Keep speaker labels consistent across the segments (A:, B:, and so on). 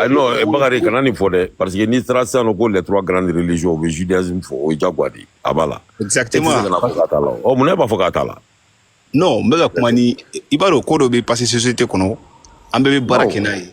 A: non bakari kana nin fɔ dɛ parce que n'i taara sisan nɔ ko les trois grandes religions u bɛ judaïsme fɔ o ye jagoya de ye a b'a la exactement e tɛ se ka na
B: fɔ
A: k'a t'a la ɔ mun na e b'a fɔ k'a t'a la non n bɛ
B: ka kuma ni i b'a dɔn ko dɔ bɛ passé société kɔnɔ an bɛɛ bɛ baara kɛ n'a ye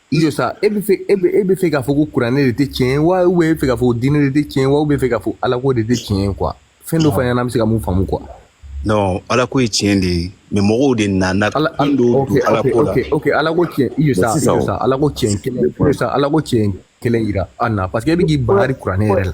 C: I jɔ sa e bɛ fɛ e bɛ e bɛ fɛ k'a fɔ ko kuranɛ de tɛ tiɲɛ ye wa ou bien e bɛ fɛ k'a fɔ diinɛ de tɛ tiɲɛ ye wa ou bien e bɛ fɛ k'a fɔ ala ko de tɛ tiɲɛ ye quoi fɛn dɔ fɔ an ɲɛna an bɛ se ka min faamu quoi. non ala
B: ko ye tiɲɛ de ye mais mɔgɔw de nana nkalon don ala ko la ok ala ko tiɲɛ
C: i jɔ sa sa ala ko tiɲɛ kelen i jɔ sa ala ko tiɲɛ kelen yira an na parce que e bɛ k'i bangari kuranɛ yɛrɛ la.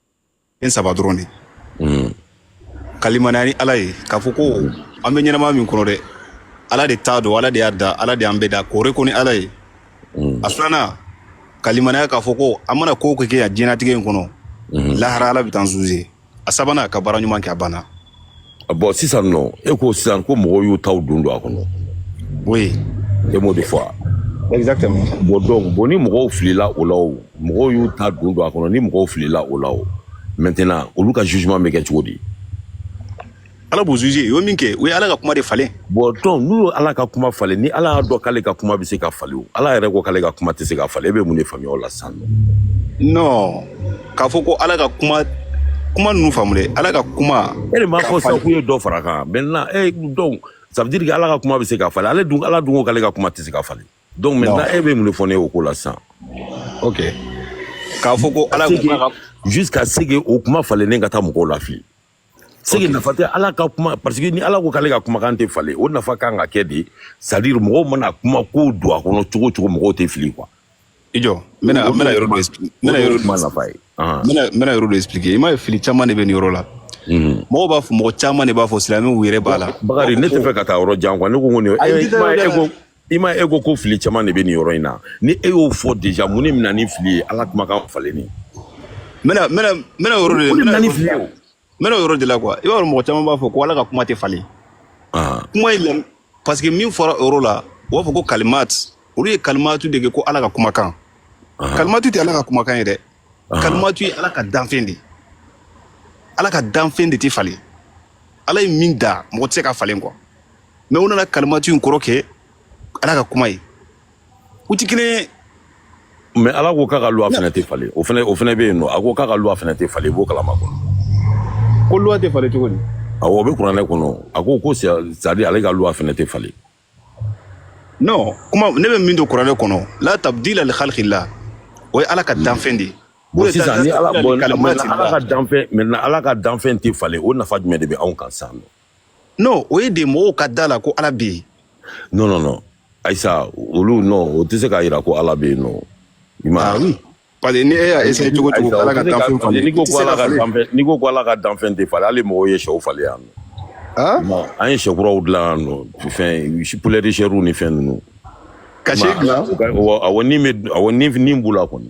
B: fɛn saba dɔrɔn de hmm. ka limaniya ni ala ye k'a fɔ ko an bɛ ɲɛnama min kɔnɔ dɛ ala de ta don ala de y'a da ala de y'an bɛɛ da k'o reconnu ala ye hmm. a filanan ka limaniya k'a fɔ ko an mana ko o ko kɛ yan diɲɛnatigɛ in kɔnɔ hmm. lahara ala bɛ taa an juger a sabanan ka baara ɲuman kɛ a banna
A: bon sisan nɔ e ko sisan ko mɔgɔw y'u taw don don a kɔnɔ
B: oui e m'o
A: de fɔ
B: exactement bon donc bon
A: ni mɔgɔw filila o la o mɔgɔw y'u ta don don a kɔnɔ ni mɔgɔw filila o la o maintenant olu ka jugement bɛ kɛ cogo
B: di ala b'u juger u ye min kɛ u ye ala ka kuma de falen bon donc n'u
A: ye ala ka kuma falen ni ala y'a dɔn k'ale ka kuma bɛ se ka falen o ala yɛrɛ ko k'ale ka kuma tɛ se ka falen e bɛ mun de faamuya o la sisan nɔ non
B: k'a fɔ ko ala ka kuma kuma ninnu faamu dɛ ala ka kuma e de m'a fɔ sisan
A: k'u ye dɔ fara a kan maintenant e donc ça veut dire que ala ka kuma bɛ se ka falen ale dun ala dun ko k'ale ka kuma tɛ se ka falen donc maintenant e bɛ mun de fɔ ne ye o ko la sisan
B: ok k'a fɔ ko ala ka kuma ka jusqu'à ce que
A: o kuma falennen ka taa mɔgɔw lafili c'est que nafa tɛ ala ka kuma parce que ni ala ko k'ale ka kumakan tɛ falen o nafa kan ka kɛ de c'est à dire mɔgɔw mana kuma ko don a kɔnɔ cogo o cogo mɔgɔw tɛ fili quoi i jɔ n
B: bɛna yɔrɔ dɔ expliquer n bɛna yɔrɔ dɔ n bɛna yɔrɔ dɔ expliquer i m'a ye fili caman de bɛ nin yɔrɔ la mɔgɔw b'a fɔ mɔgɔ caman de b'a fɔ silamɛw yɛrɛ b'a la bakari ne tɛ fɛ ka taa yɔrɔ
A: jan quoi ne ko n ko nin e ko i ma e ko ko fili caman de bɛ nin yɔrɔ in na ni e y'o fɔ déjà mun de bɛ na ni fili ye ala kumakan falenni n bɛna n bɛna n bɛna o yɔrɔ
B: de o de n bɛna bɛna ni yɔrɔ de fili la ye o n bɛna o yɔrɔ de la quoi i b'a dɔn mɔgɔ caman b'a fɔ ko ala ka kuma tɛ falen Ah, kuma in lam parce que min fɔra o yɔrɔ la u b'a fɔ ko kalimat olu ye kalimatu de kɛ ko ala ka kumakan ah, kalimatu tɛ ala ka kumakan ye dɛ ah. kalimatu ye ala ka danfɛn de ye. ala ka danfɛn de tɛ falen ala ye min da mɔgɔ tɛ se k'a falen quoi mais u nana kalimatu in kɔrɔ kɛ ala ka kuma ye u ti kelen ye
A: mais ala ko k'a ka loi fɛnɛ tɛ falen o fɛnɛ o fɛnɛ bɛ yen nɔ a ko k'a ka loi fɛnɛ tɛ falen i b'o kalan a kɔnɔ ko loi tɛ
B: falen cogo di awɔ o bɛ kuranɛ
A: kɔnɔ a ko ko c'est à dire ale ka loi fɛnɛ tɛ
B: falen non kuma ne bɛ min dɔn kuranɛ kɔnɔ la tabdila li khalqillah o ye ala ka danfɛn de ye bon sisan ni ala
A: bon ala ka danfɛn mais ala ka danfɛn tɛ falen o nafa jumɛn de bɛ anw kan sisan nɔ non o
B: ye de mɔgɔw ka da la ko ala bɛ yen non non
A: non ayisa olu non o tɛ se k'a jira ko ala bɛ yen nɔ i ma ah oui
B: parce que ni e y'a essayer cogo cogo ala ka danfɛn falen n'i ko ko ala ka danfɛn n'i
A: ko ko ala ka danfɛn tɛ falen hali mɔgɔw ye sɛw falen yan nɔ ah bon an ye sɛ kuraw dilan yan nɔ fɛn poulet de chair ni fɛn ninnu ka sɛ
B: dilan awɔ ni bɛ
A: awɔ ni ni b'u la kɔni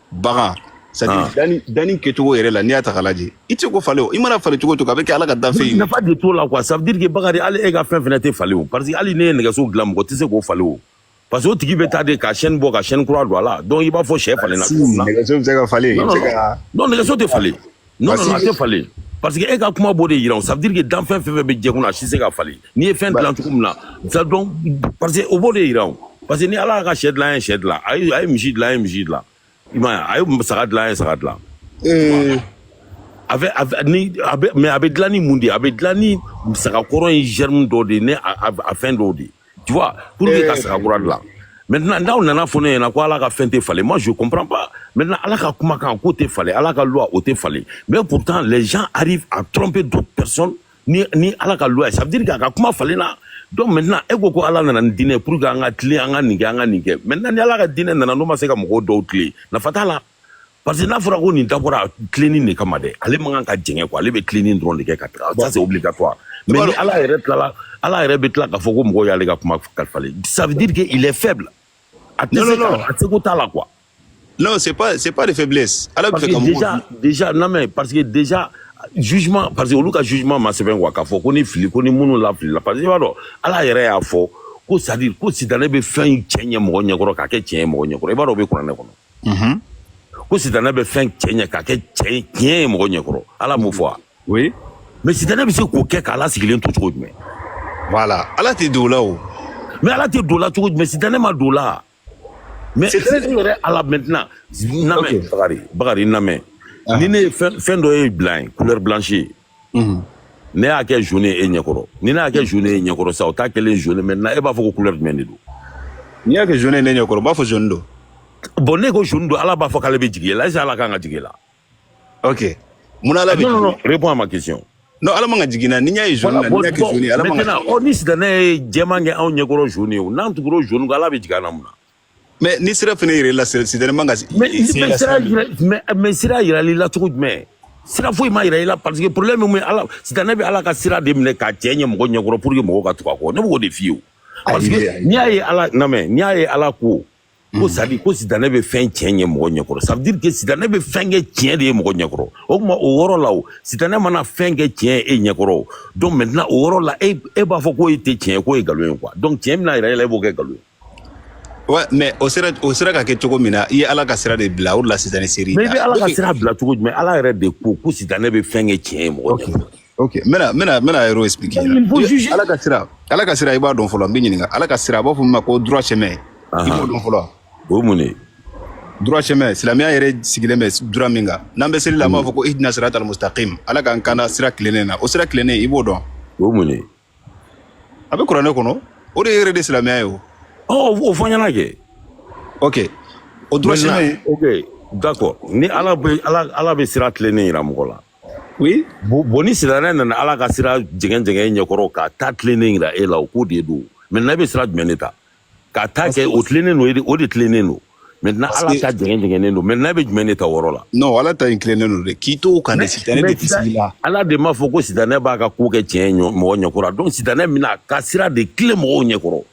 B: bagan c'est à dire danni danni kɛcogo yɛrɛ la n'i y'a ta k'a lajɛ i tɛ se k'o falen o i mana falen cogo o cogo a bɛ kɛ ala ka danfɛn ye nafa de t'o la quoi ça veut
A: dire que bakari hali e ka fɛn fɛnɛ tɛ falen o parce que hali ne ye nɛgɛso dilan mɔgɔ tɛ se k'o falen o parce que o tigi bɛ taa de ka chaîne bɔ ka chaîne kura don a la donc i b'a fɔ sɛ falenna cogo min na nɛgɛso bɛ se ka falen
B: non nɛgɛso
A: tɛ falen Non non a tɛ falen parce que e ka kuma b'o de jira o ça veut dire que danfɛn fɛn o fɛn bɛ diɲɛ kunna a si tɛ se ka falen n'i ye fɛn dilan cogo min na ça donc parce que o b'o de jira o parce que ni Ala y'a ka sɛ dilan an ye sɛ dilan a ye a ye misi dilan an ye misi dilan i m'a ye a ye saga dilan an ye saga dilan ee a bɛ a bɛ ni a bɛ mais a bɛ dilan ni mun de ye a bɛ dilan ni sagakɔrɔ in germe dɔ de ye ni a a a fɛn dɔw de ye tu vois pour que ka saga kura dilan maintenant n'aw nana fɔ ne ɲɛna ko ala ka fɛn tɛ falen moi je comprends pas maintenant ala ka kumakan k'o tɛ falen ala ka loi o tɛ falen mais pourtant les gens arrivent à tromper d'autres personnes ni ni ala ka loi ça veut dire k'a ka kuma falenna donc maintenant e ko ko ala nana ni diinɛ pour que an ka tilen an ka nin kɛ an ka nin kɛ maintenant ni ala ka diinɛ nana n'o ma se ka mɔgɔw dɔw tilen nafa t'a la parce que n'a fɔra ko nin dabɔra tilenin de kama dɛ ale man kan ka jɛngɛ quoi ale bɛ tilenin dɔrɔn de kɛ ka taga ça c'est obligatoire mais ni ala yɛrɛ tilala ala yɛrɛ bɛ tila k'a fɔ ko mɔgɔw y'ale ka kumakan falen ça veut dire que il est faible a tɛ se ka a seko t'a la quoi non c'est
B: pas c'est pas de faiblesse ala bɛ fɛ ka déjà déjà non mais
A: parce que déjà jugement parce que olu ka jugement ma sɛbɛn quoi k'a fɔ ko ni fili ko ni minnu lafilila parce que i b'a dɔn ala yɛrɛ y'a fɔ ko c'est à dire ko sitanɛ bɛ fɛn cɛɲɛ mɔgɔ ɲɛkɔrɔ k'a kɛ tiɲɛ ye mɔgɔ ɲɛkɔrɔ i b'a dɔn o bɛ kuranɛ kɔnɔ unhun ko sitanɛ bɛ fɛn cɛɲɛ k'a kɛ cɛ ye tiɲɛ ye mɔgɔ ɲɛkɔrɔ ala m'o fɔ wa oui
B: mais sitanɛ bɛ se
A: k'o kɛ k'ala sigilen to cogo jumɛn voilà
B: ala tɛ don o la o mais ala tɛ
A: don o la cogo jumɛn sitanɛ ma don o la mais sitanɛ yɛrɛ ala maintenant lamɛn bakari bakari lamɛn ni ne ye fɛn dɔ ye blanc ye couleur blanche ye ne y'a kɛ jaune e ɲɛkɔrɔ ni ne y'a kɛ jaune e ɲɛkɔrɔ sa o t'a kɛlen jaune maintenant e b'a fɔ ko couleur jumɛn de don n'i y'a kɛ
B: jaune ne ɲɛkɔrɔ b'a fɔ jaune don bon ne ko
A: jaune don ala b'a fɔ k'ale bɛ jigi la est-ce que ala kan ka jigi la
B: ok mun ala bɛ non non réponds à ma
A: question non ala man ka
B: jigin na ni y'a ye jaune na n'i y'a kɛ jaune ala man ka maintenant ni sitanɛ ye
A: jɛman kɛ anw ɲɛkɔrɔ jaune ye n'an tugura jaune kɔ ala bɛ jigin an na mun na Mais ni
B: sira fana yira i la sitanɛ man ka se- mais i- se mais la sira sira
A: jira mais mais sira jirala i la cogo jumɛn sira foyi ma jira i la parce que problème min b'a la sitanɛ bɛ ala ka sira de minɛ k'a cɛɲɛ mɔgɔ ɲɛkɔrɔ pour que mɔgɔw ka tugu a kɔ ne b'o de f'i ye o. parce Ayi, que ayi. n'i y'a ye ala n lamɛn n'i y'a ye ala ko ko c'est-à-dire ko sitanɛ bɛ fɛn cɛɲɛ mɔgɔ ɲɛkɔrɔ ça veut dire que sitanɛ bɛ fɛn kɛ tiɲɛ de ye mɔgɔ ɲɛkɔrɔ o tuma o yɔrɔ la o sitanɛ mana fɛn kɛ tiɲɛ ye e ɲɛkɔrɔ o donc maintenant o yɔrɔ la e e b'a fɔ k'o ye tɛ tiɲɛ ye k'o ye nkalon ye quoi donc tiɲɛ bɛna jira e la e b'o kɛ nkalon ye
B: Ouais mais o sera o sera ka kɛ cogo min na i ye Ala ka sira de bila o de la sitanɛ ser'i ma mais i bɛ Ala ka sira
A: bila cogo jumɛn Ala yɛrɛ de ko ko sitanɛ bɛ fɛn kɛ tiɲɛ ye mɔgɔ okay. ok n bɛna n bɛna n
B: bɛna yɔrɔ expliquer Ala ka sira Ala ka sira i b'a dɔn fɔlɔ n b'i ɲininka Ala ka sira a b'a fɔ min ma ko droit chemin i b'o dɔn fɔlɔ o ye mun de
A: ye droit
B: chemin silamɛya yɛrɛ sigilen bɛ droit min kan n'an bɛ seli la an b'a fɔ ko ihdina siratal mustaqim Ala k'an kanda sira tilennen na o sira tilennen i b'o dɔn o ye mun de ye a bɛ kuranɛ kɔnɔ o de ye yɛrɛ de silamɛya ye o ɔ o fɔ n
A: ɲɛna kɛ ok
B: o droit chemin ok d'accord
A: ni ala bɛ ala ala bɛ sira tilennen yira mɔgɔ la oui
B: bon bon ni
A: sitanɛ nana ala ka sira jɛngɛn jɛngɛn i ɲɛkɔrɔ k'a ta tilennen yira e la o ko de don maintenant e bɛ sira jumɛn de ta k'a ta kɛ o tilennen don e de- o de tilennen don maintenant Parce ala que- ta jɛngɛn jɛngɛnnen don maintenant e bɛ jumɛn de ta o yɔrɔ la non ala ta in tilennen
B: don dɛ k'i to o kan de sitanɛ tɛ se i la ala de m'a fɔ ko sitanɛ
A: b'a ka ko kɛ tiɲɛ ɲɔ- mɔgɔ ɲɛkɔrɔ donc sitanɛ bɛna a ka sira de tilen mɔgɔw ɲɛkɔrɔ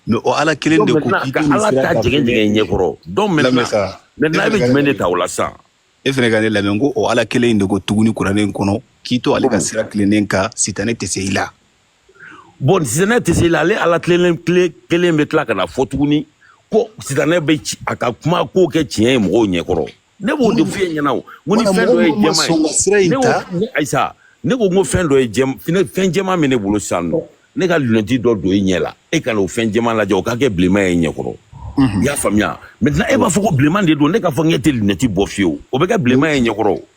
A: mais o
B: ala kelen donc de ko maintenant k'i ka to nin ala sira ta kan jɛngɛn
A: jɛngɛn ɲɛkɔrɔ donc Lamɛn maintenant sa. maintenant e bɛ jumɛn de ta o la sisan e fɛnɛ ka ne
B: lamɛn ko o ala kelen in de ko tuguni kuranɛ kɔnɔ k'i to ale ka sira tilennen kan sitanɛ tɛ se i la
A: bon sitanɛ tɛ se i la ale ala kelen bɛ tila ka na fɔ tuguni ko sitanɛ bɛ ci a ka kuma ko kɛ tiɲɛ ye mɔgɔw ɲɛkɔrɔ ne b'o de f'i ɲɛna o n ko ni fɛn dɔ ye jɛman ye ne ko ne ayisa ne ko n ko fɛn dɔ ye jɛm fɛn fɛn jɛman bɛ ne bolo sisan nɔ ne ka lunɛti dɔ don i ɲɛ la e ka na o fɛn jɛman lajɛ o ka kɛ bilenman ye i ɲɛkɔrɔ i y'a faamuya maintenant e b'a fɔ ko bilenman de don ne k'a fɔ n k'e tɛ lunɛti bɔ fiyewu o bɛ kɛ bilenman ye i ɲɛkɔrɔ o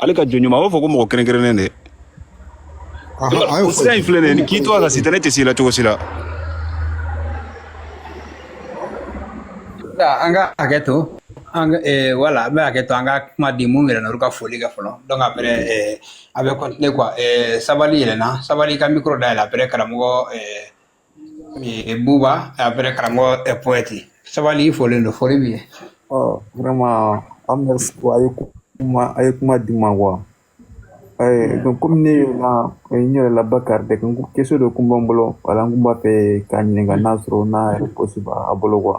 B: ale ka jɔn ɲuman a b'a fɔ ko mɔgɔ kɛrɛnkɛrɛnnen de sira in filɛ nin ye n'i k'i to a kan sitanɛ tɛ s'i la cogo si la
D: an ka hakɛ to an eh, voilà an bɛ hakɛ to an ka kuma di minw yɛlɛnna olu ka foli kɛ fɔlɔ donc après eh, a bɛ continuer quoi eh, sabali yɛlɛna sabali ka micro dayɛlɛ après karamɔgɔ eh, Buba après karamɔgɔ poète sabali i folen don foli b'i ye ɔ vraiment
E: an bɛ a ye kuma a ye kuma di n ma quoi donc komi ne ye na n yɛrɛ la bakari de ko question dɔ kun bɛ n bolo voilà n kun b'a fɛ k'a ɲininka n'a sɔrɔ n'a réponse b'a bolo quoi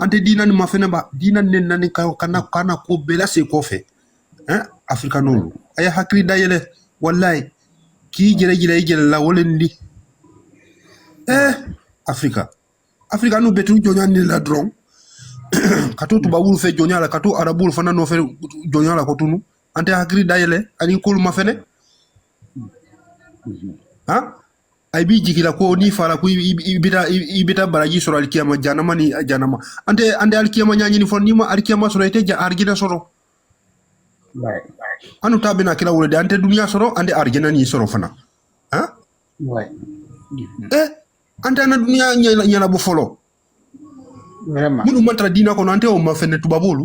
F: an tɛ diina ni mafɛnɛ ba diina ni ne nani ka kana kana ko bɛɛ lase kɔfɛ ɛn afirikanolu a ye hakili dayɛlɛ walayi k'i jɛrɛ jira i jɛrɛ la wo le nin di ɛɛ afirika afirikanu bɛ to jɔnya nin la dɔrɔn ka to tubabolu fɛ jɔnya la ka to arabolu fana nɔfɛ jɔnya la ko tunu an tɛ hakili dayɛlɛ ani kolu mafɛnɛ han a b'i jigi la ko n'i fara ko i bɛ taa i bɛ taa baraji sɔrɔ alikiyama janama ni janama an tɛ an tɛ alikiyama ɲaɲini fɔlɔ n'i ma alikiyama sɔrɔ i tɛ ja arijinɛ sɔrɔ an ta bɛna kira wo le di an tɛ duniya sɔrɔ an tɛ arijinɛ ni sɔrɔ fana han ɛ eh, an tɛ an na duniya ɲɛnabɔ fɔlɔ
D: minnu ma tara diina
F: kɔnɔ an tɛ o mafɛnɛ tubabolu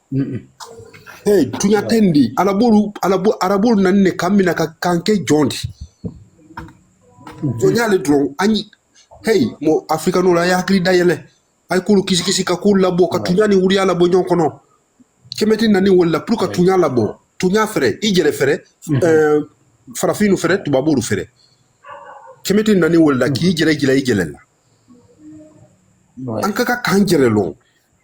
F: ee tuɲa tɛ nin di ee alabolu alabo arabolu nanin ne k'an mina ka k'an kɛ jɔn di jɔnya le dɔrɔn an ye heyi mɔ afirikanolu a ye hakili dayɛlɛ a ye kolu kisikisi ka kolu labɔ ka tuɲa ni wuriya labɔ ɲɔgɔn kɔnɔ kɛmɛti nani wo le la pour ka tuɲa labɔ tuɲa fɛrɛ i jɛrɛ fɛrɛ ɛɛ farafinu fɛrɛ tubabolu fɛrɛ kɛmɛti nani wo le la k'i jɛrɛ jira i jɛrɛ la an ka ka k'an jɛrɛ lɔn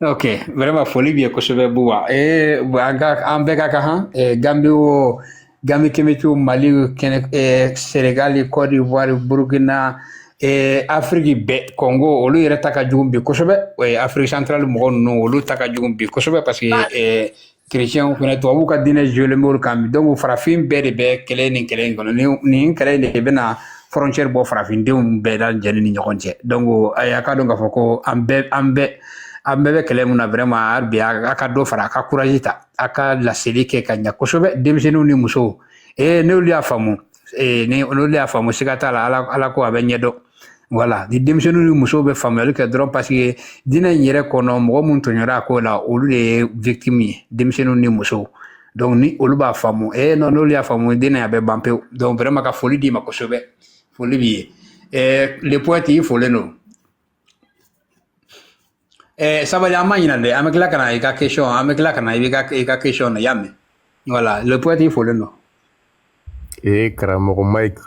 D: Okay, vraiment foli b'i ye kosɛbɛ Buba. Ee an ka an bɛɛ ka kan han ee Gambie o Gambie kɛmɛtiw Mali kɛnɛ ee Senegal Côte d'Ivoire Burkina ee Afrique bɛɛ Congo olu yɛrɛ ta ka jugu bi kosɛbɛ ee Afrique centrale mɔgɔ ninnu olu ta ka jugu bi kosɛbɛ parce que ee kerecɛnw fana tubabuw ka diinɛ jɔlen b'olu kan bi donc farafin bɛɛ de bɛ kɛlɛ nin kɛlɛ in kɔnɔ nin kɛlɛ de bɛna frontière bɔ farafindenw bɛɛ lajɛni ni ɲɔgɔn cɛ donc a y'a ka dɔn k'a fɔ ko an bɛɛ an bɛɛ an bɛɛ bɛ kɛlɛ min na vraiment a bi a ka dɔ fara a ka courage ta a ka laseli kɛ ka ɲa kosɛbɛ denmisɛnninw ni musow ee n'olu y'a faamu ee ni n'olu y'a faamu siga t'a la ala ko a bɛ ɲɛdɔn voilà ni denmisɛnninw ni musow bɛ faamuyali kɛ dɔrɔn parce que diinɛ in yɛrɛ kɔnɔ mɔgɔ minnu tɔɲɔra a ko la olu de ye victime ye denmisɛnninw ni musow donc ni olu b'a faamu e non n'olu y'a faamu diinɛ a bɛ ban pewu donc vraiment ka foli d'i ma kosɛbɛ foli b'i ye le poète i folen don Eh, sabali an ma ɲina, an bɛ tila ka na, i ka question, an bɛ tila ka na, i ka question na, y'a mɛn. Voilà, le poète, i folen don. Et eh,
C: Karamɔgɔ Mike,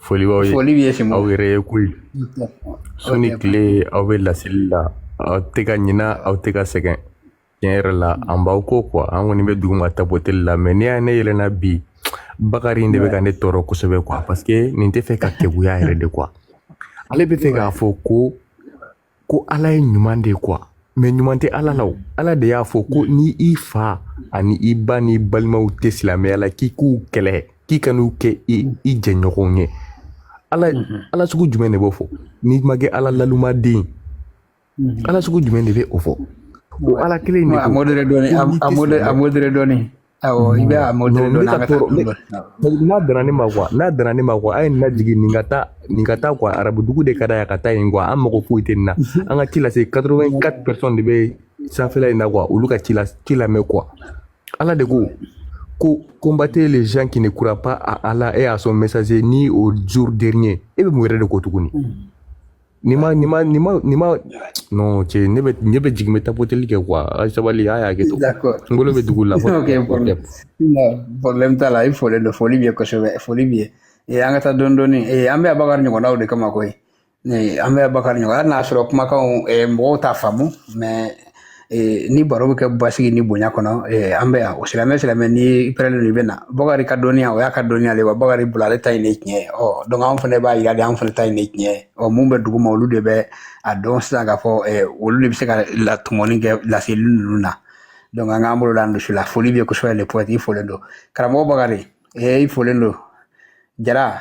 C: foli b'aw ye foli b'i ye simo aw yɛrɛ ye ko ye su ni tile aw bɛ laseli la aw tɛ ka ɲina aw tɛ ka sɛgɛn tiɲɛ yɛrɛ la an b'aw ko quoi an kɔni bɛ duguma tapoteli la mais n'i y'a ye ne yɛlɛnna bi Bakari in de bɛ ka ne tɔɔrɔ kosɛbɛ quoi parce que nin tɛ fɛ ka keguya yɛrɛ de quoi ale bɛ fɛ k'a fɔ ko ko ala ye ɲuman de ye quoi mais ɲuman tɛ ala la o ala de y'a fɔ ko ni i fa ani i ba n'i balimaw tɛ silamɛya la k'i k'u kɛlɛ k'i kan'u kɛ i jɛɲɔgɔnw ye ala mhm. ala sugu jumɛn de b'o fɔ n'i ma kɛ ala lalumaden mhm. ala sugu jumɛn de bɛ o fɔ o ala kelen de a modéré dɔɔni
D: a modéré dɔɔni n'a
C: dana ne ma n'a dana ne ma a ye nin lajigin nin ka taa nin ka taa arabu dugu de ka da yan ka taa yen an mago foyi tɛ nin na an ka ci lase quatre-vingt-quatre personnes de bɛ sanfɛla in na quoi olu ka ci la ci lamɛn quoi ala de ko ko combattez les gens qui ne croient pas à Allah et à son messager ni au jour dernier e bɛ mun yɛrɛ de ko tuguni Ni ma ni ma ni ma ni ma non cɛ ne bɛ ne bɛ jigin bɛ tapoteli kɛ quoi a sabali a y'a kɛ to d'accord n bolo bɛ dugu la ok problème problème
D: t'a la i folen don foli b'i ye kosɛbɛ foli b'i ye ee an ka taa dɔɔni dɔɔni ee an bɛ yan bakari ɲɔgɔnnaw de kama koyi ee an bɛ yan bakari ɲɔgɔn hali n'a sɔrɔ kumakanw ee mɔgɔw t'a faamu mais ni baro bɛ kɛ basigi ni bonya kɔnɔ an bɛ yan o silamɛ silamɛ ni i prêt don i bɛ na bakari ka dɔnniya o y'a ka dɔnniya de ye wa bakari bolo ale ta in de ye tiɲɛ ye ɔ donc anw fana b'a yira de an fana ta in de ye tiɲɛ ye ɔ minnu bɛ duguma olu de bɛ a dɔn sisan k'a fɔ olu de bɛ se ka latɔmɔni kɛ laseli ninnu na donc an k'an bolo da dusu la foli bɛ kosɛbɛ le poète i folen don karamɔgɔ bakari i folen don jara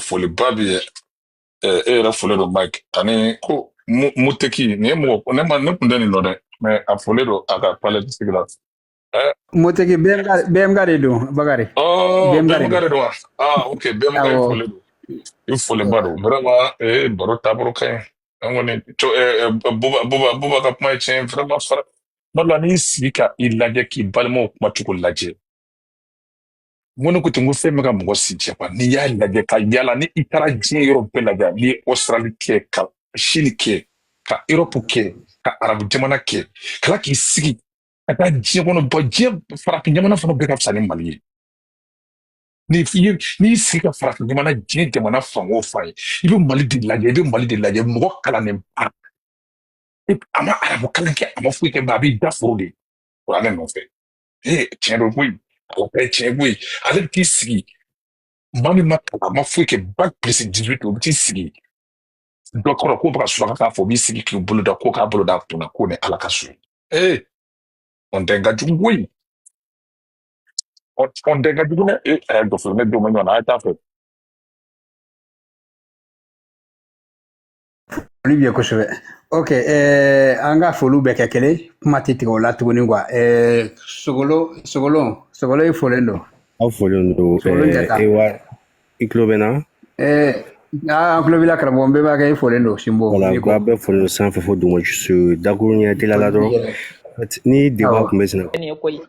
G: foliba b'i ye ɛ e yɛrɛ folen don mike ani ko mu muteki nin ye mɔgɔ ne ma ne kun tɛ nin dɔn dɛ mais a folen don a ka palɛtisigi la ɛ muteki
D: bmk bmk de don bakari ɔ bmk de bmk don de
G: don wa ah ok bmk i awɔ folen don i folenba don vraiment ee baro taabolo ka ɲi an kɔni co ɛ ɛ buba buba buba ka kuma ye tiɲɛ ye vraiment fara kuma dɔ la n'i y'i sigi ka i lajɛ k'i balimaw kuma cogo lajɛ n ko ne ko ten n ko fɛn bɛ ka mɔgɔ si jɛ quoi n'i y'a lajɛ ka yala ni i taara diɲɛ yɔrɔ bɛɛ lajɛ n'i ye Australie kɛ ka Chine kɛ ka Europe kɛ ka arabu jamana kɛ kala k'i sigi ka taa diɲɛ kɔnɔ bɔ diɲɛ farafin jamana fana bɛɛ ka fisa ni mali ye n'i y'i sigi ka farafin jamana diɲɛ jamana fan o fan ye i bɛ mali de lajɛ i bɛ mali de lajɛ mɔgɔ kalannen ba a ma arabu kalan kɛ a ma foyi kɛ ba a b'i da foro de kuranɛ nɔfɛ ee tiɲɛ don koyi a bɛ kɛ tiɲɛ koyi ale bɛ t'i sigi maa min ma kalan a ma foyi kɛ bac plus dix-huit o bɛ t'i sigi dɔ kɔrɔ k'o bɛ ka surakakan fɔ o b'i sigi k'i bolo da ko k'a bolo da kunna k'o ni ala ka so ye ee honte in ka jugu koyi hon honte in ka jugu dɛ ee a y'a dɔfolo ne don ma ɲɔgɔn na a ye taa fɛ
D: Foli b'i ye kosɛbɛ ok an ka foliw bɛɛ kɛ kelen kuma tɛ tigɛ o la tuguni quoi sogolon sogolon sogolon i folen don aw folen
H: don i tulo bɛ n
D: na an tulo b'i la karamɔgɔ bɛɛ b'a kɛ i folen don sinbo voilà k'a bɛɛ
H: foli sanfɛ fo duguma dakuru ɲɛ teliya la dɔrɔn ni débat tun bɛ sɛnɛ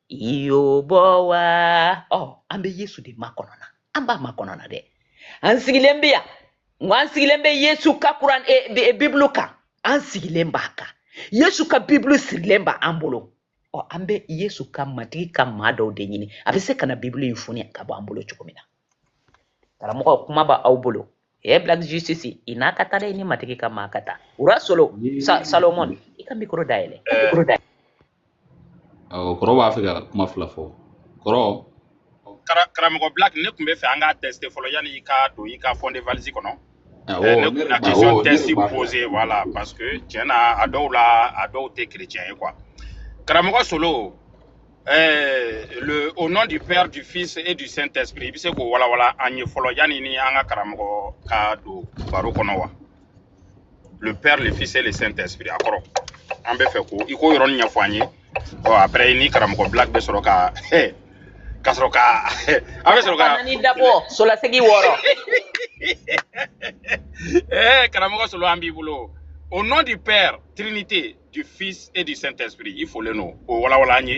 I: yobɔ wa ɔ oh, an bɛ yesu de makɔnɔ na an b'a makɔnɔ na dɛ an sigilen bɛ yan nka an sigilen bɛ yesu ka kuran e, e, e, bibulu kan an sigilen b'a kan yesu ka bibulu sirilen b'an bolo ɔ oh, an bɛ yesu ka matigi ka maa dɔw de ɲini a bɛ se ka na bibulu in foni ka bɔ an bolo cogo min na karamɔgɔ kuma b'aw bolo ɛ black justice i n'a ka taa dɛ ni matigi ka maa ka taa ura solo sa salomon i ka mikoro dayɛlɛ eh. mikoro
J: dayɛlɛ awɔ kɔrɔ b'a fɛ ka kuma fila fɔ
K: kɔrɔ karamɔgɔ black ne tun bɛ fɛ an k'a tester fɔlɔ yanni i ka don i ka fond de valise kɔnɔ Awɔ, ne ne kun na awɔ, question test poser voilà parce que tiɲɛ na a dɔw la a dɔw tɛ chrétien ye quoi karamɔgɔ solo eh, le au nom du père du fils et du saint esprit i bɛ se k'o walawala an ye fɔlɔ yanni ni an ka karamɔgɔ ka don baro kɔnɔ wa le père le fils et le saint esprit a kɔrɔ an bɛ fɛ ko i k'o yɔrɔnin ɲɛfɔ an ye ɔ après i ni karamɔgɔ black bɛ sɔrɔ ka ka sɔrɔ ka an bɛ sɔrɔ ka ni dabɔ solasegi
I: wɔɔrɔ
K: ɛɛ karamɔgɔ solo an b'i bolo au nom du père trinité du fils et du saint esprit i folen don o walawala an ye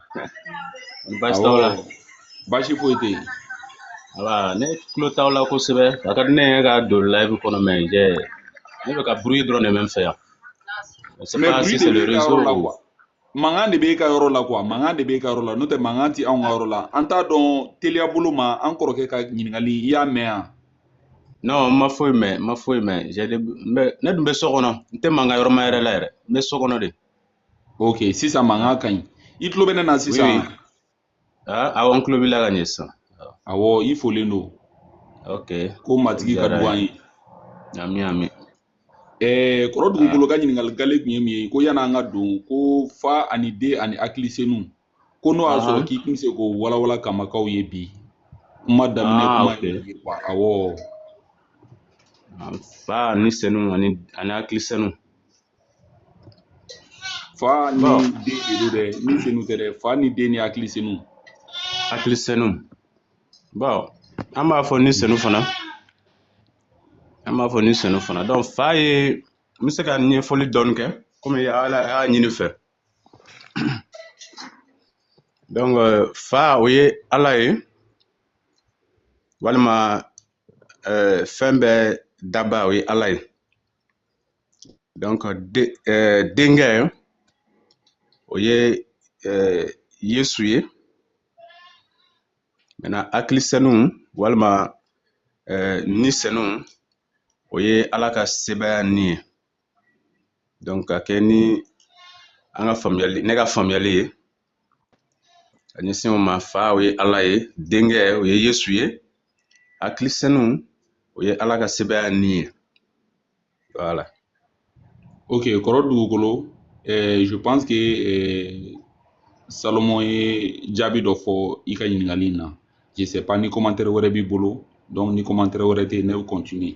L: Baasi t'aw la baasi foyi
J: tɛ yen voilà
L: ne tulo t'aw la kosɛbɛ a ka di ne ye ka don live kɔnɔ mais je ne bɛ ka bruit dɔrɔn de mɛn n fɛ yan mais bruit de b'e ka yɔrɔ la quoi mankan de
J: b'e ka yɔrɔ la quoi mankan de b'e ka yɔrɔ la n'o tɛ mankan tɛ anw ka yɔrɔ la an t'a dɔn teliya bolo ma an kɔrɔkɛ ka ɲininkali i y'a mɛn yan non n
L: ma foyi mɛn n ma foyi mɛn ne dun bɛ so kɔnɔ n tɛ mankan yɔrɔ ma yɛrɛ la yɛrɛ n bɛ so kɔnɔ de
J: ok sisan mankan ka ɲi i tulo bɛ ne na
L: sisan ah, awɔ n tulo b'i la ka ɲɛ sisan awɔ
J: i folen don ok
L: ko matigi ka
J: duga an ye ami ami
L: eh,
J: kɔrɔ dugukolo ka ɲininkali gale tun ye min ye ko yanni an ka don ko fa ani den ani hakilisenu ko n'o y'a sɔrɔ k'i tun bɛ se k'o walawala kamakaw ye bi kuma daminɛ ah, kuma ye awɔ
L: fa ani senu ani hakilisenu
J: fa ni Bon. den de don dɛ ni senu tɛ dɛ fa ni den ni hakili senu hakili
L: senu bon an b'a fɔ ni senu fana an b'a fɔ ni senu fana donc fa ye n bɛ se ka ɲɛfɔli dɔɔni kɛ komi ala y'a ɲini fɛ donc euh, fa o ye ala ye walima euh, fɛn bɛɛ daba o ye ala ye donc de eh, denkɛ o ye eh, yesu ye maintenant hakili senu walima eh, ni senu o ye ala ka sebaya ni ye donc ka kɛɲɛ ni an ka faamuyali ne ka faamuyali ye ka ɲɛsin o ma fa o ye ala ye denkɛ o ye yesu ye hakili senu o ye ala ka sebaya ni ye voilà
J: ok kɔrɔ dugukolo eh, je pense que eh, salomon ye jaabi dɔ fɔ i ka ɲininkali in na je sais pas ni commentaire wɛrɛ b'i bolo donc ni commentaire wɛrɛ tɛ ne bɛ continuer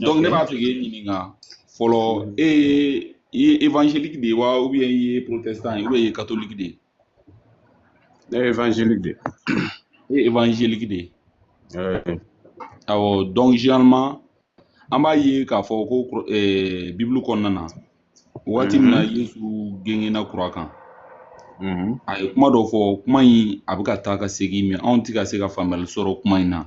J: donc ne b'a fɛ k'e ɲininka fɔlɔ e ye évangélique de ye wa ou bien i ye protestant ye ou bien i ye catholique de ye.
L: ne ye évangélique de ye. e ye
J: évangélique de ye. awɔ donc généralement an b'a ye k'a fɔ ko eh, bibulu kɔnɔna na waati min na mhm. yesu gengenna croix kan mhm. a ye kuma dɔ fɔ kuma in a bɛ ka taa ka segin mais anw tɛ ka se ka faamuyali sɔrɔ kuma in na.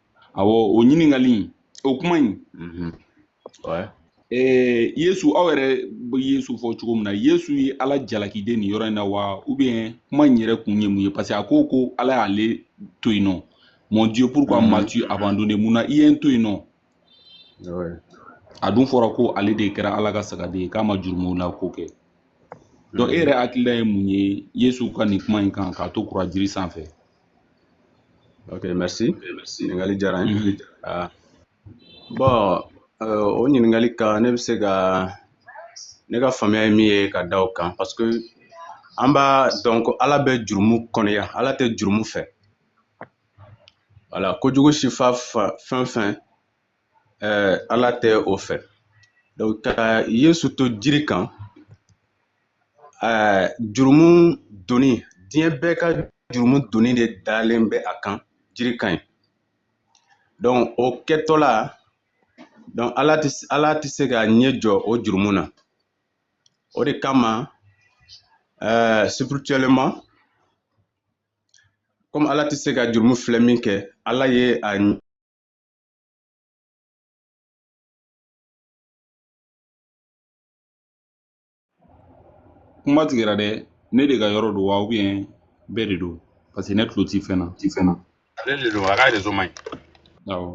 J: awɔ o ɲininkali in o kuma in mhm. yesu aw yɛrɛ bɛ yesu fɔ cogo min na yesu ye ala jalaki de nin yɔrɔ in na wa ou bien kuma in yɛrɛ kun ye mun ye parce que a ko ko ala y'ale to yen nɔ mon dieu pourquoi mhm. m'as-tu abandonné mun na i ye n to yen nɔ a dun fɔra ko ale de kɛra ala ka sagaden ye k'a ma jurumu la ko kɛ donc e yɛrɛ hakilila ye mun ye yesu ka nin kuma in kan k'a to croix jiri sanfɛ
L: ok merci ɲininkali diyara n ye Ah. bon euh, o ɲininkali kan ne bɛ se ka ne ka faamuya ye min ye ka da o kan parce que an b'a dɔn ko ala bɛ jurumu kɔniya ala tɛ jurumu fɛ wala kojugu sifa fa- fɛn o fɛn eh, ala tɛ o fɛ donc ka yesu to jiri kan eh, jurumu doni diɲɛ bɛɛ ka jurumu doni de dalen bɛ a kan jiri kan yen donc o kɛtɔla donc ala tɛ ala tɛ se ka ɲɛ jɔ o jurumu na o de kama eh, spirituellement comme ala tɛ se ka jurumu filɛ min kɛ ala ye a
J: kuma tigɛra dɛ ne de ka yɔrɔ don wa ou bien bɛɛ de don parce que ne tulo ti fɛn na ti fɛn na ale de don a ka
K: réseau man ɲi awɔ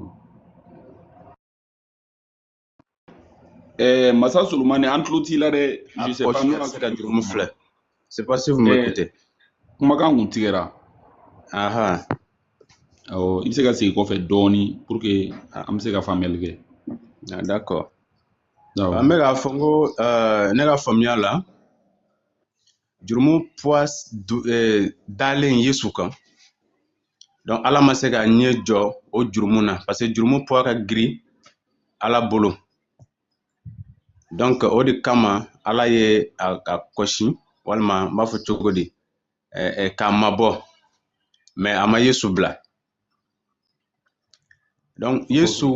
J: Eh, masa solomani an tulo t'i la dɛ ah, je sais pas n'o ma se ka jurumu filɛ sais pas si vous
L: m'écoutez eh, kumakan kun
J: tigɛra aha awɔ i bɛ se ka segin kɔfɛ dɔɔni pour que ah. an bɛ se ka faamuyali kɛ ah,
L: d'accord an bɛ k'a fɔ n ko euh, ne ka faamuya la jurumu poids eh, dalen yesu kan donc ala ma se k'a ɲɛ jɔ o jurumu na parce que jurumu poids ka girin ala bolo donc o de kama ala ye a, a kɔ sin walima n b'a fɔ cogo di eh, eh, k'a mabɔ mais a ma yesu bila Donc, Yesu,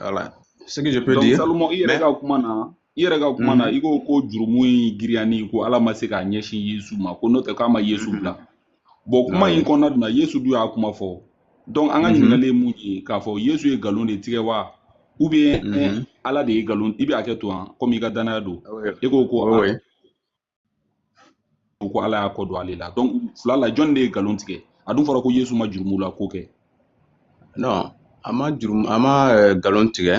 L: voilà, euh, ce que je peux Donc, dire. Salomon, il
J: mais... i yɛrɛ ka kuma na mhm. i ko ko jurumu in girinya in ko ala ma se k'a ɲɛsin yesu ma ko n'o tɛ k'a ma yesu mhm. bila bon kuma in kɔnɔna dun na yesu dun y'a kuma fɔ donc an ka mhm. ɲininkali ye mun ye k'a fɔ yesu ye nkalon de tigɛ wa ou bien ala de ye nkalon i bɛ hakɛ to hein komi i ka danaya don ah e ko ko ah, u ko ala y'a kɔ don ale la donc fila la jɔnni de ye nkalon tigɛ a dun fɔra ko yesu ma jurumu la ko kɛ non
L: a ma jurumu a ma eh, nkalon tigɛ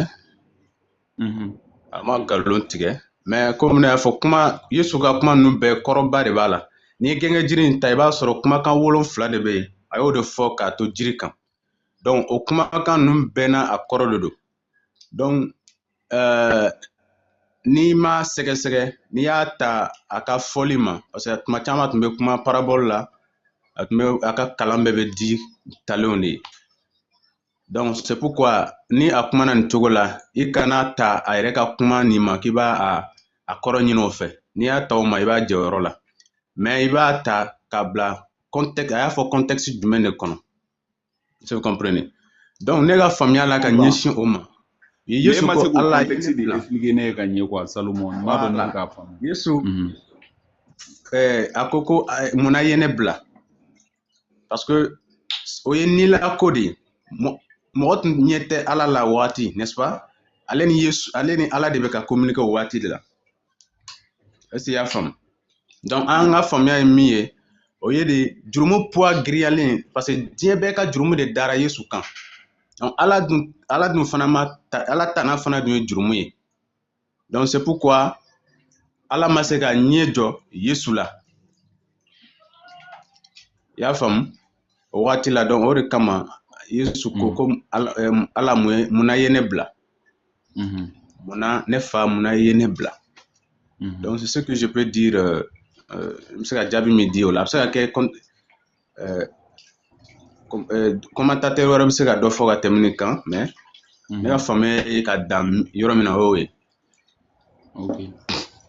L: mhm. a ma nkalon tigɛ mais komi ne y'a fɔ kuma yesu ka kuma ninnu bɛɛ kɔrɔba de b'a la n'i ye gɛngɛ jiri in ta i b'a sɔrɔ kumakan wolonfila de bɛ yen a y'o de fɔ k'a to jiri kan donc o kumakan ninnu bɛɛ n'a a kɔrɔ de don donc euh, n'i m'a sɛgɛsɛgɛ n'i y'a ta a ka fɔli ma parce que tuma caman tun bɛ kuma parabole la a tun bɛ a ka kalan bɛɛ bɛ di talenw de ye donc c'est pourquoi ni a kumana nin cogo la i kana ta a yɛrɛ ka kuma nin ma k'i b'a a a kɔrɔ ɲini o fɛ n'i y'a ta o ma i b'a jɛ o yɔrɔ la mais i b'a ta k'a bila contexte a y'a fɔ contexte jumɛn de kɔnɔ vous comprenez donc ne ka faamuya la ka ɲɛsin o ma yesu ko ala ye contexte de expliquer ne ye ka
J: ɲɛ quoi salomon n b'a dɔn ne k'a faamu yesu mhm.
L: eh, a ko ko eh, munna i ye ne bila parce que o ye ni la ko de ye mɔgɔ tun ɲɛ tɛ ala la waati n'est ce pas ale ni yesu ale ni ala de bɛ ka communiquer o waati de la est-ce que i y'a faamu donc an ka faamuya ye min ye o ye de jurumu poids giriyalen parce que diɲɛ bɛɛ ka jurumu de dara yesu kan donc ala dun ala dun fana ma ta ala tana fana dun ye jurumu ye donc c'est pourquoi ala ma se ka ɲɛ jɔ yesu la i y'a faamu o wagati la donc o de kama yesu ko ko ala mun ye mun na i ye ne bila Mhm. Munna ne fa munna i ye ne bila mhm. donc c'est ce que je peux dire euh, euh, n bɛ se ka jaabi min di o la a bɛ se ka kɛ commentateur wɛrɛ bɛ se ka dɔ fɔ ka tɛmɛ nin kan mais ne ka faamuya ye ka dan yɔrɔ min na o y'o ye
J: ok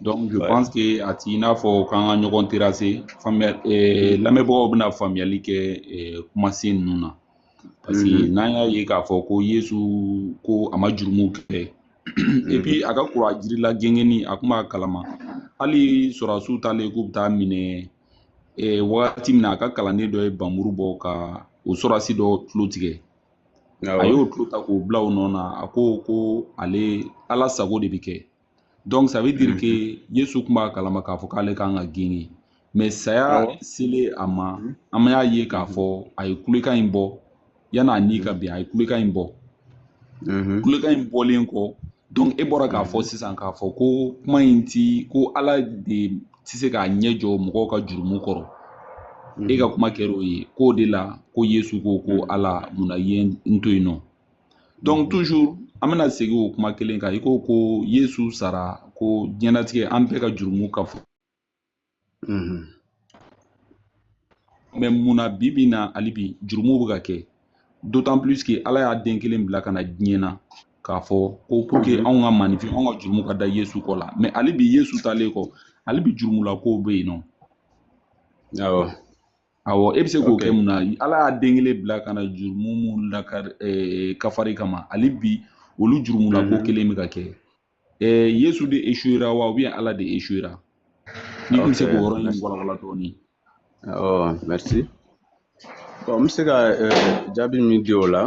J: donc je ouais. pense que a t'i n'a fɔ k'an ka ɲɔgɔn terrasser faamuya eh, lamɛnbagaw bɛna faamuyali kɛ eh, kumasen ninnu na parce que mm -hmm. n'an y'a ye k'a fɔ ko yesu ko a ma jurumu kɛ et puis a ka kuruwa jiri la gengenni a kun b'a kalama hali sɔrɔdasiw taalen k'u bɛ taa a minɛ eh, wagati min na a ka kalanden dɔ ye npanmuru bɔ ka o sɔrɔdasi dɔ tulo tigɛ a y'o tulo ta k'o bila o nɔ na a ko ko ale ala sago de bɛ kɛ donc ça veut dire mm-hmm. que yesu tun b'a kalama k'a fɔ k'ale kan ka gengen mais saya selen a ma mm-hmm. an y'a ye k'a fɔ a ye kulekan in bɔ yan'a ni ka bɛn a ye kulekan in bɔ mm-hmm. kulekan in bɔlen kɔ donc e bɔra k'a fɔ sisan k'a fɔ ko kuma in ti ko ala de tɛ se k'a ɲɛ jɔ mɔgɔw ka jurumu kɔrɔ e ka kuma kɛra o ye k'o de la ko yesu ko ko ala mun na i ye n to yen nɔ donc toujours an bɛna segin o kuma kelen kan i ko ko yesu sara ko diɲɛnatigɛ an bɛɛ ka jurumu ka fɔ mhm. mais mun na bi bi na hali bi jurumu bɛ ka kɛ d'autant plus que ala y'a den kelen bila ka na diɲɛ na k'a fɔ ko pour que mhm. anw ka manifin anw ka jurumu ka da yesu kɔ la mais hali bi yesu taalen kɔ hali bi jurumulakow bɛ yen nɔ awɔ awɔ e bɛ se k'o kɛ mun na ala y'a den kelen bila ka na jurumu minnu lakari eh, kafari kama hali bi olu jurumulako mhm. kelen bɛ ka kɛ eh, yesu de échouéra wa ou bien ala de échouéra n'i tun bɛ se k'o yɔrɔ in walawala dɔɔnin
L: ɔ merci bon n bɛ se ka jaabi min di o la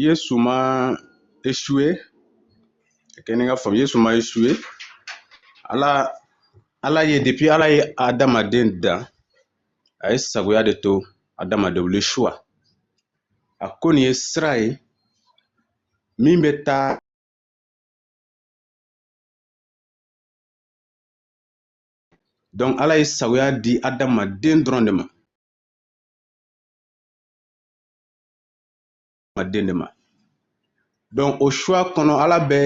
L: yesu ma échoué kɛ ne ka faamu yesu ma échoué ala ala ye depuis ala ye adamaden dan a ye sagoya de to adamaden bolo choix a ko nin ye sira ye min bɛ taa Donc ala ye sagoya di adamaden dɔrɔn de ma adamaden de ma donc o choix kɔnɔ ala bɛ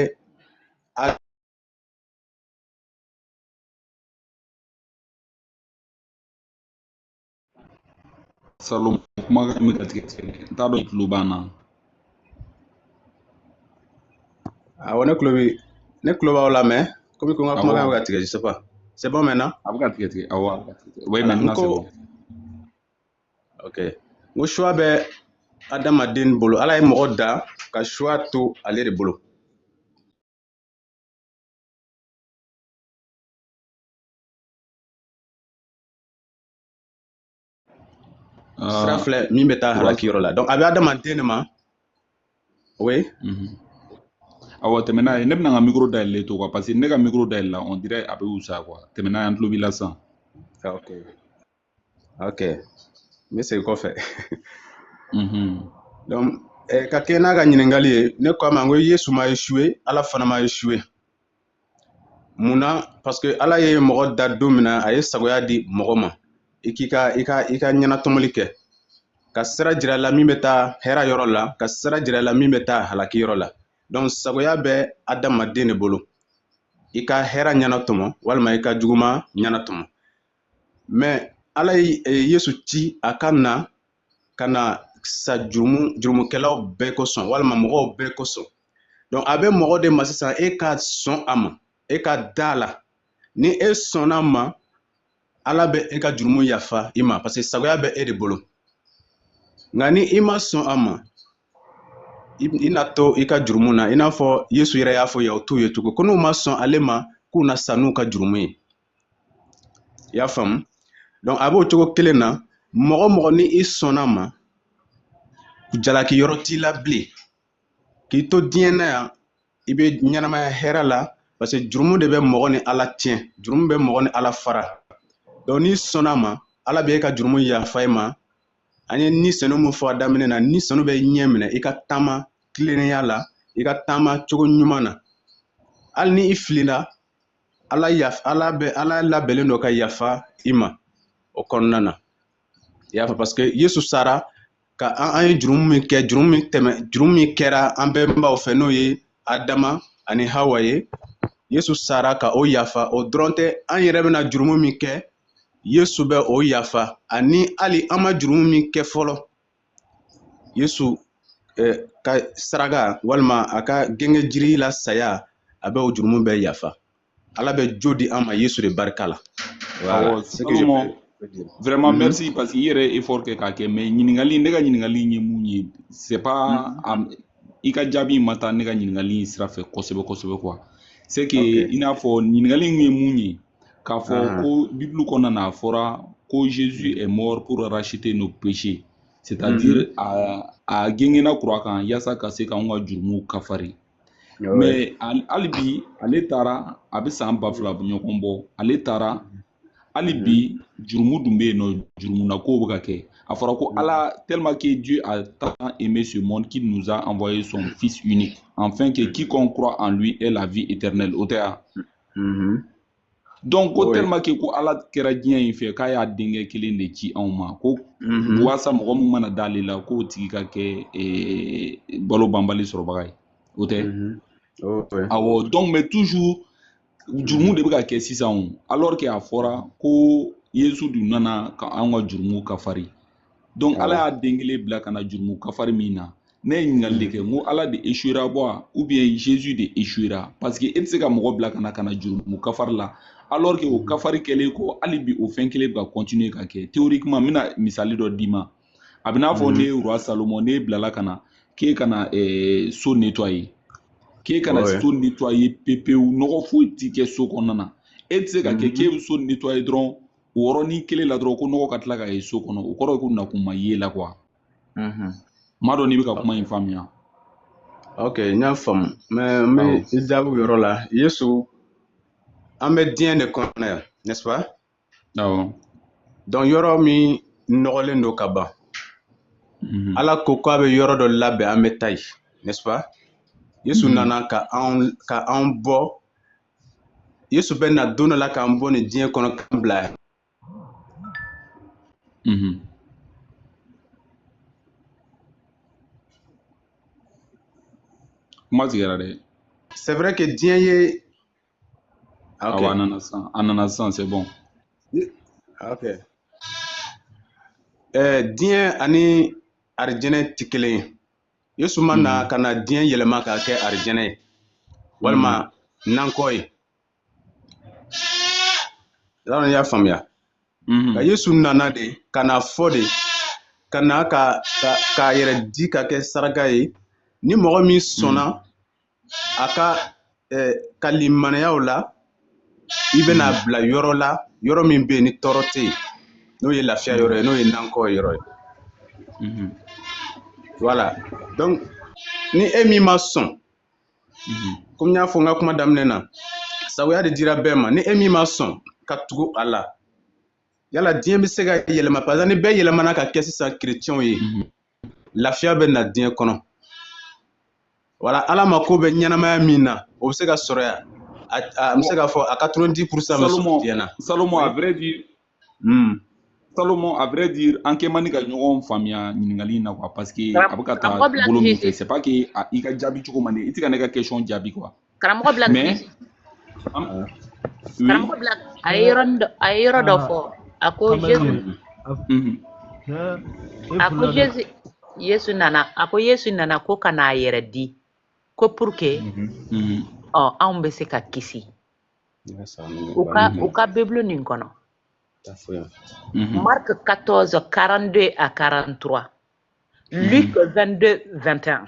J: salon kumakan bɛ ka tigɛ tigɛ n t'a dɔn i tulo b'an
L: na awɔ ne tulo bi ne tulo b'aw la mais komi ko n ka kumakan bɛ ka tigɛ je sais pas c'est bon maintenant a bɛ ka tigɛ tigɛ awɔ
J: oui maintenant c'est bon
L: ok n ko choix bɛ adamaden bolo ala ye mɔgɔ da ka choix to ale de bolo Ah. sira filɛ min bɛ taa halaki yɔrɔ la donc a bɛ adamaden de ma oui mhm.
J: awɔ tɛmɛ n'a ye ne bɛna n ka micro dayɛlɛlen to quoi parce que ne ka micro dayɛlɛ la on dirait a bɛ wusa quoi tɛmɛ n'a ye an tulo b'i la sisan ah,
L: ok ok n bɛ segin kɔfɛ mhm. donc eh, ka kɛ n'a ka ɲininkali ye ne ko a ma n ko yesu ma échoué ala fana ma échoué mun na parce que ala ye mɔgɔ da don min na a ye sagoya di mɔgɔ ma i k'i ka i ka i ka ɲɛnatɔmɔli kɛ ka sira jira la min bɛ taa hɛra yɔrɔ la ka sira jira la min bɛ taa halaki yɔrɔ la donc sagoya bɛ adamaden de bolo i ka hɛra ɲɛnatɔmɔ walima i ka juguma ɲɛnatɔmɔ mais ala ye e, yesu ci a ka na ka na sa jurumu jurumukɛlaw bɛɛ kosɔn walima mɔgɔw bɛɛ kosɔn donc a bɛ mɔgɔ de ma sisan e ka sɔn a ma e ka da a la ni e sɔnna a ma ala bɛ e ka jurumu yafa i ma parce que sagoya bɛ e de bolo nka ni i ma sɔn a ma i na to i ka jurumu na i n'a fɔ yesu yɛrɛ y'a fɔ yahutuw ye tugun ko n'u ma sɔn ale ma k'u na sa n'u ka jurumu ye i y'a faamu donc a b'o cogo kelen na mɔgɔ mɔgɔ ni i sɔnna a ma jalaki yɔrɔ t'i la bilen k'i to diɲɛ na yan i bɛ ɲɛnamaya hɛrɛ la parce que jurumu de bɛ mɔgɔ ni ala tiɲɛ jurumu bɛ mɔgɔ ni ala fara donc n'i sɔnna a ma ala bɛ e ka jurumu yafa i ma an ye ni senu mun fɔ a daminɛ na ni senu b'i ɲɛminɛ i ka taama tilennenya la i ka taama cogo ɲuman na hali ni i filila ala yaf ala bɛ ala labɛnnen don ka yafa i ma o kɔnɔna na i y'a fɔ parce que yesu sara ka an an ye jurumu min kɛ jurumu min tɛmɛ jurumu min kɛra an bɛnbaw fɛ n'o ye adama ani hawa ye yesu sara ka o yafa o dɔrɔn tɛ an yɛrɛ bɛna jurumu min kɛ yesu bɛ o yafa ani hali an ma jurumu min kɛ fɔlɔ yesu eh, ka saraka walima a ka gengenjiri la saya a bɛ o jurumu bɛɛ yafa ala bɛ jo di an ma yesu de barika la voilà.
J: vraiment mm -hmm. merci parce que i yɛrɛ effort kɛ k'a kɛ mais ɲininkali ne ka ɲininkali ye mun ye c'est pas mm -hmm. i ka jaabi ma taa ne ka ɲininkali sira fɛ kosɛbɛ kosɛbɛ quoi c'est que okay. i n'a fɔ ɲininkali ye mun ye k'a fɔ ah. ko bibulu kɔnɔna na a fɔra ko Jésus est mort pour racheter nos péchés c'est-à-dire mm -hmm. a a gengenna kuruwa kan yaasa ka se k'anw ka jurumu kafari mais hali bi ale taara a bɛ san ba fila ɲɔgɔn bɔ ale taara hali bi mm-hmm. jurumu dun bɛ yen non jurumuna kow bɛ ka kɛ a fɔra ko ala mm-hmm. tellement que Dieu a tant aimé ce monde qu'il nous a envoyé son fils unique afin que mm-hmm. quiconque croit en lui ait la vie éternelle o tɛ wa Mm-hmm. donc ko tellement que ko ala kɛra diɲɛ in fɛ k'a y'a denkɛ kelen de ci anw ma ko mm-hmm. waasa mɔgɔ min mana d'ale la k'o tigi ka kɛ eh, balo banbali sɔrɔbaga ye o tɛ mm-hmm. awɔ donc mais toujours jurumu de bɛ ka kɛ sisan o alors que a fɔra ko yesu dun nana ka an ka jurumu kafari donc ala y'a den kelen bila ka na jurumu kafari min na ne ye ɲininkali de kɛ n ko ala de échouera wa ou bien jésus de échouera parce que e tɛ se ka mɔgɔ bila ka na ka na jurumu kafari la alors que o mm. kafari kɛlen kɔ hali bi o fɛn kelen bɛ ka continuer ka kɛ théoriquement n bɛna misali dɔ d'i ma a bɛ n'a fɔ mm. ne roi salomon ne bilala ka na k'e ka na eh, so nettoyer k'e ka na so nettoyer pepewu nɔgɔ foyi tɛ kɛ so kɔnɔna na e tɛ se ka kɛ mm-hmm. k'e bɛ so nettoyer dɔrɔn o yɔrɔnin kelen la dɔrɔn ko nɔgɔ ka tila ka ye so kɔnɔ o kɔrɔ ye ko nakun ma ye la quoi n m'a dɔn n'i bɛ ka kuma in faamuya ok
L: n y'a faamu mais n bɛ i jaabi o yɔrɔ la yesu an bɛ diɲɛ de kɔnɔ yan n'est-ce pas
J: awɔ
L: donc yɔrɔ min nɔgɔlen don ka ban mhm. ala ko k'a bɛ yɔrɔ dɔ labɛn an bɛ taa yen n'est-ce pas yesu mhm. nana ka anw bɔ yesu bɛ na don dɔ la k'an bɔ nin diɲɛ kɔnɔ k'an bila yen
J: mhm. kuma tigɛra dɛ c'est vrai
L: que diɲɛ
J: ye ah, okay. awa a nana sisan a nana sisan c'est bon ah,
L: ok eh, diɲɛ ani arijɛnɛ tɛ kelen ye yesu ma na hmm. ka na diɲɛ yɛlɛma k'a kɛ arijɛnɛ ye walima hmm. nankɔ ye yala i y'a faamuya hmm. nka yesu nana de ka na fɔ de ka na ka k'a yɛrɛ di ka kɛ saraka ye ni mɔgɔ min sɔnna a ka eh, ka limaniyaw la i bɛna hmm. bila yɔrɔ la yɔrɔ min bɛ yen ni tɔɔrɔ tɛ yen n'o ye lafiya yɔrɔ ye n'o ye nankɔ yɔrɔ ye hmm. voilà donc ni e min ma sɔn hmm. komi n y'a fɔ n ka kuma daminɛ na sagoya de dira bɛɛ ma ni e min ma sɔn ka tugu a la yala diɲɛ bɛ se ka yɛlɛma par exemple ni bɛɛ yɛlɛmana ka kɛ sisan kerecɛnw ye lafiya bɛ na diɲɛ kɔnɔ wala ala mako bɛ ɲɛnamaya min na o bɛ se ka sɔrɔ yan an bɛ se k'a fɔ a 90% bɛ sɔrɔ diɲɛ na salomon à vrai
J: dire hmm. salomon à vrai dire an kɛ man di ka ɲɔgɔn faamuya ɲininkali in na quoi parce que a bɛ ka taa bolo min fɛ c'est pas que i ka jaabi cogo man di i tɛ ka ne ka question jaabi quoi karamɔgɔ black
I: karamɔgɔ black a ye yɔrɔ a ye yɔrɔ dɔ fɔ a ko yesu a ko yesu yesu nana a ko yesu nana ko ka n'a yɛrɛ di ko pour que ɔ anw bɛ se ka kisi u ka u ka bibulu nin kɔnɔ marc 14 42 à 43 luc 22 21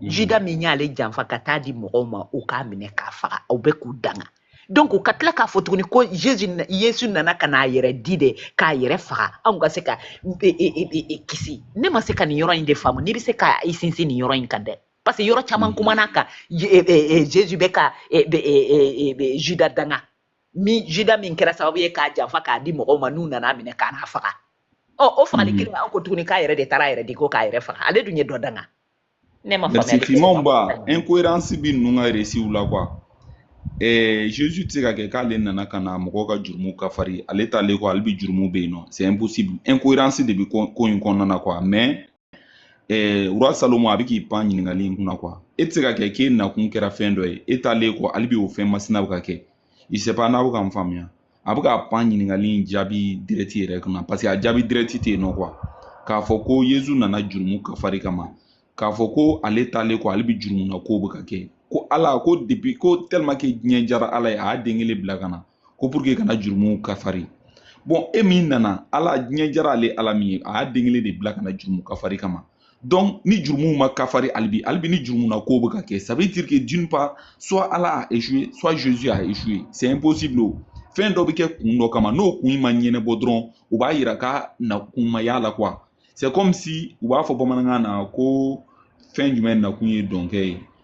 I: mhm. juda min y'ale janfa ka taa di mɔgɔw ma u k'a minɛ k'a faga aw bɛ k'u danga donc ka tila k'a fɔ tuguni ko jesu yesu nana ka n'a yɛrɛ di de k'a yɛrɛ faga anw ka se ka e, e, e, kisi ne ma se ka nin yɔrɔ in de faamu n'i bɛ se ka i sinsin nin yɔrɔ in kan dɛ parce que yɔrɔ caman mhm. kumana kan jesu bɛ ka juda danga min juda min kɛra sababu ye k'a janfa k'a di mɔgɔw ma n'u nana minɛ ka n'a faga ɔ o fagali kelen an ko tuguni k'a yɛrɛ de taara a yɛrɛ di ko k'a yɛrɛ faga ale dun ye dɔ danga ne ma faamuyali fimanba
J: incohérence bi ninnu ka récitw la quoi eh, Jésus tɛ se ka kɛ k'ale nana ka na mɔgɔw ka jurumu kafari ale taalen kɔ hali bi jurumu bɛ yen nɔ c'est impossible incohérence de bi ko in kɔnɔna na quoi mais eh, roi salomon a bɛ k'i pan ɲininkali in kunna quoi e tɛ se ka kɛ k'e nakun kɛra fɛn dɔ ye e taalen kɔ hali bi o fɛn masina bɛ ka kɛ je sais pas n'a bɛ ka n faamuya a bɛ ka pan ɲininkali in jaabi direct yɛrɛ kunna parce que a jaabi direct tɛ yen nɔ quoi k'a fɔ ko yezu nana jurumu kafari kama k'a fɔ ko ale taalen kɔ hali bi jurumu na kow bɛ ka kɛ ko ala ko depuis ko tellement que diɲɛ jara ala ye a y'a den kelen bila ka na ko pour que ka na jurumuw kafari bon e min nana ala diɲɛ jara ale ala min ye a y'a den kelen de bila ka na jurumu kafari kama donc ni jurumuw ma kafari hali bi hali bi ni jurumu na kow bɛ ka kɛ ça veut dire que d'une part soit ala a échoué soit jésus a échoué c'est impossible o fɛn dɔ bɛ kɛ kun dɔ kama n'o kun ma ɲɛnabɔ dɔrɔn u b'a yira k'a nakun ma diy'a la quoi c'est comme si u b'a fɔ bamanankan na ko fɛn jumɛn nakun ye dɔnkɛ ye